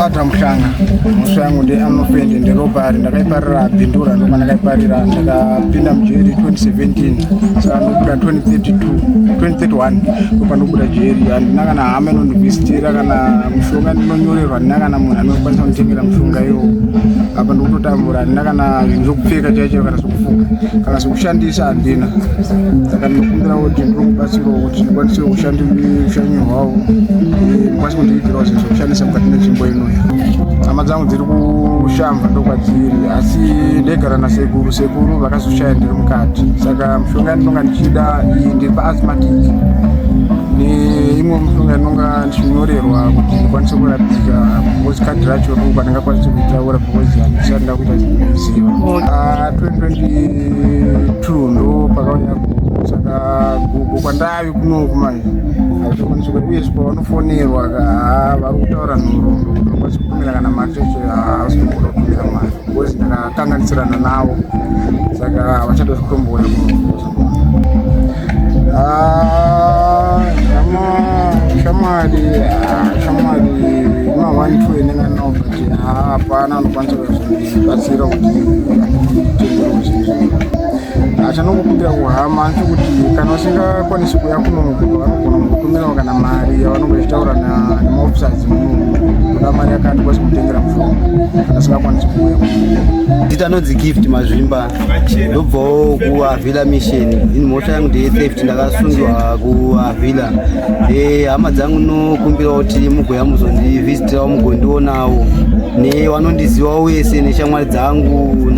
Ata mushanga musha yangu ndi anofende nderopari ndakaiparira bindura ndokwa ndakaiparira ndakapinda mujeri 2017 saka ndobuda 2032 2031 ndokwa ndobuda jeri handina kana hama inondivhistira kana mushonga ndinonyorerwa handina kana munhu anokwanisa kunditengera mushonga iwo apa ndikutotambura handina kana zvinhu zvokupfeka chaicho kana zvokufuka kana zvokushandisa handina saka ndinokumbirawo kuti ndinokubatsirawo kuti ndikwanise kushandiswa ushanyi hwawo kundiitirawo zvinhu zvekushandisa mukati menzvimbo inoyi hama dzangu dziri kushamba ndokwadziri asi ndaigara nasekuru sekuru vakazoshaya ndiri mukati saka mushonga yandinonga ndichida iyi ndiri paasmatic neimwe mushonga inonga ndichinyorerwa kuti ndikwanise kurapika because kadhi racho ruku andingakwanisi kuitaura because handisati ndakuita ziva 2022 ah, ndo pakauya saka gugu kwandai kuno kumai hazvikwanisi kuti uye pavanofonerwa haa vari kutaura nhoroondo kuti vakwanisi kutumira kana mari cheche haasi kuda kutumira mari bcause ndakakanganisirana navo saka havachada zvikutombouya shamwari shamwari ma one two enenganobati hapana anokwanisa kuzvii batsira kuti achanongokumbira kuhama ati kuti kana usingakwanisi kuya kunoku vanogona kukutumirawo kana mari yavanonge vachitaura nemaofisers munoku kuda mari yakati kwasi kutengera mushonga kana usingakwanisi kuuya dita nonzi gift mazvimba ndobvawo kuavhila mission in mhosva yangu ndeye theft ndakasungiwa kuavhila eh, hama dzangu nokumbirawo kuti mugoya muzondivhizitirawo mugondiona avo nevanondizivawo wese neshamwari dzangu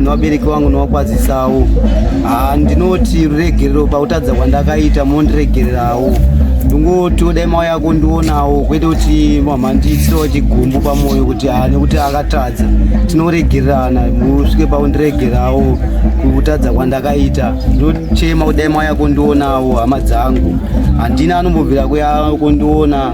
nevabereki vangu novakwazisawo ah, ndinoti ruregerero pakutadza kwandakaita mondiregererawo ndingotiwo dai mawa yako ndionawo kwete kuti mamhandiitirawo chigumbu pamwoyo kuti ha ah, nekuti akatadza tinoregererana musvike paundiregerawo kutadza kwandakaita ndochema kudai mawa yako ndionawo hama dzangu handina anombobvira kuya kondiona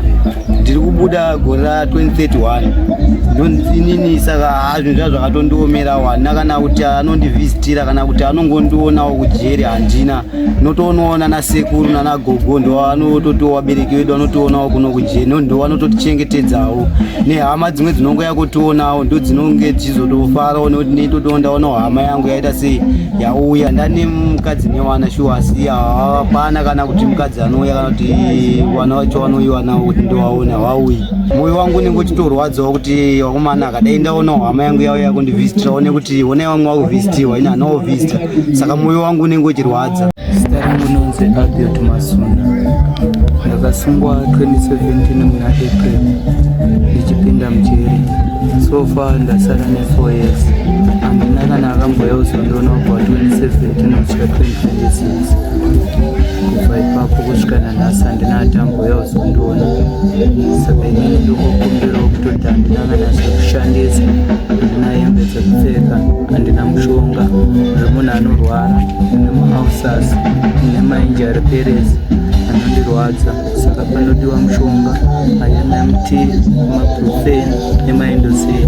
ndiri kubuda gore ra 2031 inini saka hazvinhu zva zvakatondiomera wana kana kuti anondivhizitira kana kuti anongondionawo kujeri handina notoonawo nana sekuru nana gogo ndo anototiwo vabereki vedu anotionawo kuno kujeri no ndo vanototichengetedzawo nehama dzimwe dzinongo yakutionawo ndo dzinonge dzichizotofarawo nekuti neitotoondaonawo hama yangu yaita sei yauya ndane mukadzi newana shuwa asi hapana kana kuti mukadzi anouya kana kuti vana vacho vanoiwana kuti ndovaona vauyi moyo wangu unenge uchitorwadzawo kuti vakomana akadai ndaonawo hama yangu yauya kundivhizitira one kuti honai vamwe vakuvhizitiwa ini hana wovhizita saka moyo wangu unenge uchirwadza zita rangu nonzi abiot masunda ndakasungwa 2017 muna april ndichipinda mujeri so far ndasara ne4 years handina kana akamboyauza ndonobva 2017 kusvika 2026 kubva ipapo kusvika nanhasi handina atambuya kuzondiona saka inini ndokukumbirawo kutoti handina kana zvekushandisa handina hembe dzekupfeka handina mushonga zvemunhu anorwara ine mahausas ine mainji ari peresi anondirwadza saka panodiwa mushonga anmt maprofen emaindoseti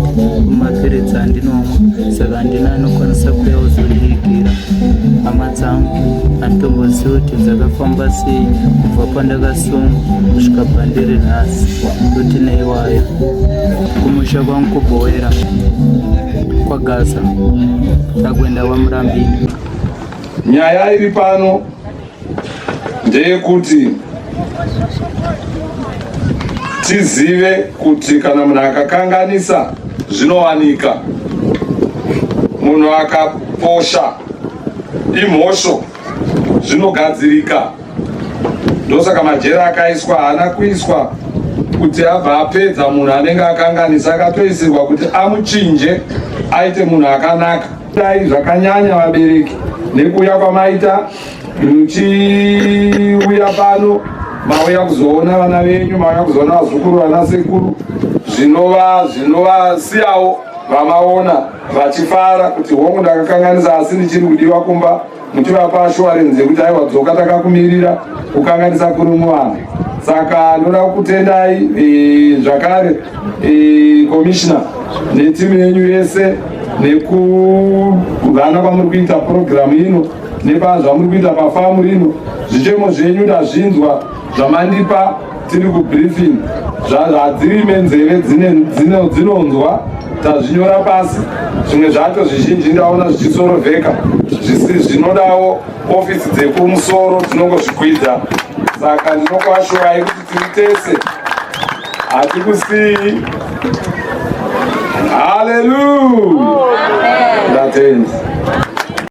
mapiritsi andinomwa saka handina anokwanisa kuya kuzondiigira dzangu handitombozivi kuti dzakafamba sei kubva pandakasungwa kusvika pandiri nhasi kuti neiwayo kumusha kwangu kubhowera kwagaza ndakuenda kwamurambini nyaya iri pano ndeyekuti tizive kuti kana munhu akakanganisa zvinowanika munhu akaposha imhosho zvinogadzirika ndosaka majera akaiswa haana kuiswa kuti abva apedza munhu anenge akanganisa akatoisirwa kuti amuchinje aite munhu akanaka dai zvakanyanya vabereki nekuuya kwamaita muchiuya pano mauya kuzoona vana venyu mauya kuzoona vazukuru vana sekuru zvinova zvinovasiyawo vamaona vachifara kuti hongu ndakakanganisa asi ndichiri kudiwa kumba muchivapa ashuwarenzi yekuti aiwa dzoka takakumirira kukanganisa kuri muvanhu saka ndoda kukutendai e, zvakare e, komishina netimu yenyu yese nekuvana kwamuri kuita purogiramu ino nepazvamuri kuita pafamu rino zvichemo zvenyu ndazvinzwa zvamandipa tiri kubriefing zvadzirime nzeve dzinonzwa tazvinyora pasi zvimwe zvacho zvizhinji ndaona zvichisorovheka zvinodawo ofisi dzekumusoro tinongozvikwidza saka ndinokuashurai kuti tiri tese hatikusiyi haleluya ndatenda